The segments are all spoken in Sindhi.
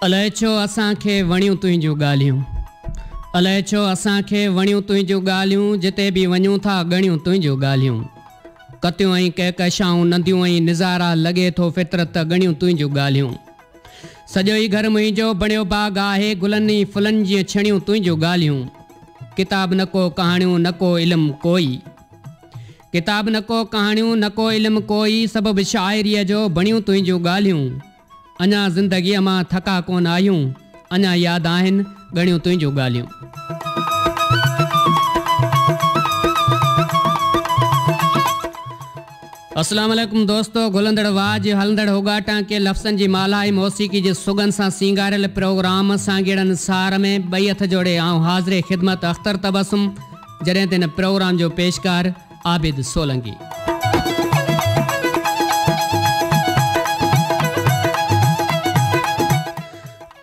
الائي ڇو اسان کي وڻيون تنهنجون ڳالهيون الائي ڇو اسان کي وڻيون تنهنجون ڳالهيون جتي به وڃون ٿا ڳڻيون تنهنجون ڳالهيون ڪتيون ۽ ڪهڪشائون ننديون ۽ نظارا لڳي ٿو فطرت ته ڳڻيون تنهنجون ڳالهيون سڄو ئي گهر منهنجو بڻيو باغ آهي گلن ۽ ڦلن جيئن ڇڻيون تنهنجون ڳالهيون ڪتاب نه ڪو ڪهاڻيون نه ڪو علم ڪوئي ڪتاب نه ڪو ڪهاڻيون نه ڪو علم ڪوئي سڀ به شاعريء جو بڻيون تنهنجون ڳالهيون اڃا زندگيء مان ٿڪا ڪونه آهيون اڃا ياد آهن ڳڻيون تنهنجون ڳالهيون. اسلام عليڪم دوستو گهلندڙ واء جي هلندڙ هوڳا ٽانڪي لفظن جي مالهائي موسيقي جي سگهن سان سينگاريل پروگرام سانگيئڙن سار ۾ ٻئي هٿ جوڙي آئون حاضر خدمت اختر تبسم جڏهن ته هن پروگرام جو پيشڪار عابد سولنگي.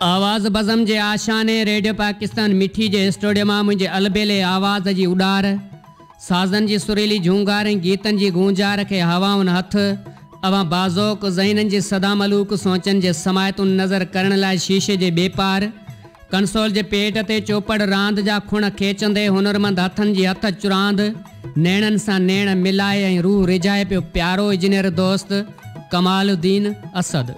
آواز بزم جي آشياني ريڊيو پاڪستان مٺي جي اسٽوڊيو مان منهنجي البيلي آواز جي اڏار، سازن جي سريلي جهونگار ۽ گيتن جي گونجار کي هوائن هٿ، اوهان باذوق ذهنن جي سدا ملوڪ سوچن جي سماعتون نظر ڪرڻ لاء شيشي جي ٻي پار، ڪنسول جي پيٽ تي چوپڙ راند جا کڻ کيچندي هنرمند هٿن جي هٿ چراند، نيڻن سان نيڻ ملائي ۽ روح ريجهائي پيو پيارو اجنير دوست ڪمال الدين اسد.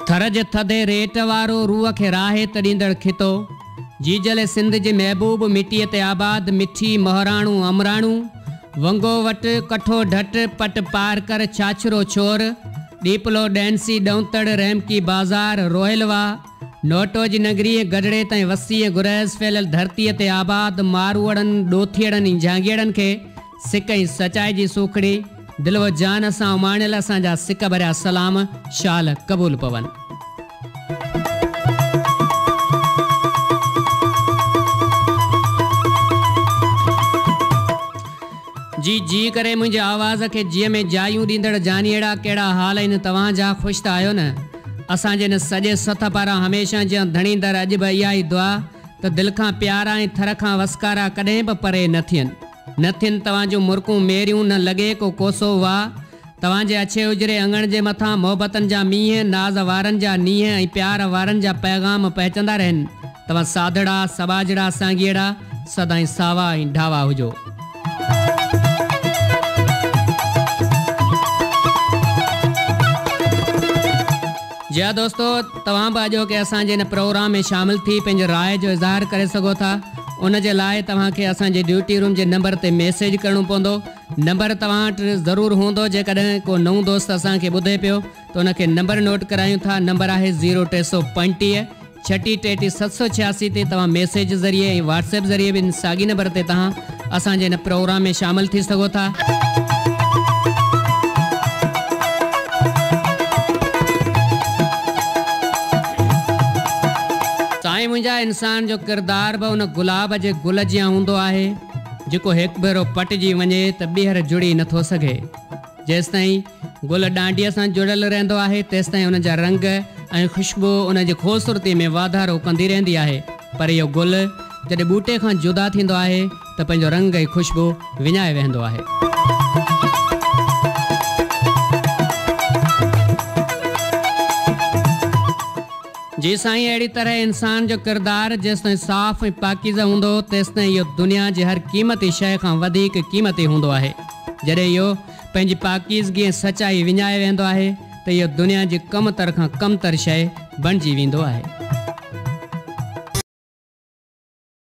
ٿر جي ٿڌي ريٽ وارو روح کي راحت ڏيندڙ خطو. جيجل سنڌ جي محبوب مٽيء تي آباد، مٺي، مهراڻو، امراڻو، ونگو وٽ، ڪٺو ڍٽ، پٽ پارڪر، ڇاڇرو ڇور، ڏيپلو، ڏهنسي، ڏئونتڙ، رحمڪي بازار، روهيل واهه، نوٽو جي ننگري ۽ گڍڙي تائين وسيع ۽ گرهيز ڦهليل ڌرتيء تي آباد ماروئڙن، ڏوٿيئڙن ۽ جهانگيئڙن کي سڪ ۽ سچائي جي سوکڙي، دل و جان سان اماڻيل اسان جا سڪ ڀريا سلام، شال، قبول پون. جي جي ڪري منهنجي آواز کي جيء ۾ جايون ڏيندڙ جانيئڙا ڪهڙا حال آهن توهان جا خوش ته آهيو نه اسان جي هن سڄي سٿ پاران هميشه جيان ڌڻي در اڄ به اها ئي دعا ته دل کان پيارا ۽ ٿر کان وسڪارا ڪڏهن به پري نه ٿين. نه ٿين توهان جون مرڪون ميريون نه لڳي ڪو ڪوسو واء توهان جي اڇي اجري اڱڻ جي مٿان محبتن جا مينهن ناز وارن جا نينهن ۽ پيار وارن جا پيغام پهچندا رهن توهان ساڌڙا سٻاجهڙا سانگيئڙا سدائين ساوا ۽ ڍاوا هجو. جي ها دوستو توهان به اڄوڪي اسان جي هن پروگرام ۾ شامل ٿي پنهنجي راء جو اظهار ڪري سگهو ٿا. ان جي لاء توهان کي اسان جي ڊيوٽي روم جي نمبر تي ميسيج ڪرڻو پوندو. نمبر توهان وٽ ضرور هوندو جيڪڏهن ڪو نئون دوست اسان کي ٻڌي پيو ته ان کي نمبر نوٽ ڪرايون ٿا نمبر آهي زيرو ٽي سؤ پنجٽيهه ڇٽيهه ٽيٽيهه ست سؤ ڇياسي تي توهان ميسيج ذريعي ۽ واٽس ايپ ذريعي به ان ساڳي نمبر تي توهان اسان جي ان پروگرام ۾ شامل ٿي سگهو ٿا. سائين منهنجا انسان جو ڪردار به ان گلاب جي گل جيان هوندو آهي جيڪو هڪ ڀيرو پٽجي وڃي ته ٻيهر جڙي نه ٿو سگهي. جيستائين گل ڏانڊيء سان جڙيل رهندو آهي تيستائين ان جا رنگ ۽ خوشبو ان جي خوبصورتي ۾ واڌارو ڪندي رهندي آهي پر اهو گل جڏهن ٻوٽي کان جدا ٿيندو آهي ته پنهنجو رنگ ۽ خوشبو وڃائي ويهندو آهي. جي سائين اهڙي طرح انسان جو ڪردار جيستائين صاف ۽ پاڪيزه هوندو تيستائين اهو دنيا جي هر قيمتي شيء کان وڌيڪ قيمتي هوندو آهي. جڏهن اهو پنهنجي پاڪيزگي ۽ سچائي وڃائي ويهندو آهي ته اهو دنيا جي ڪم تر کان ڪم تر شيء بڻجي ويندو آهي.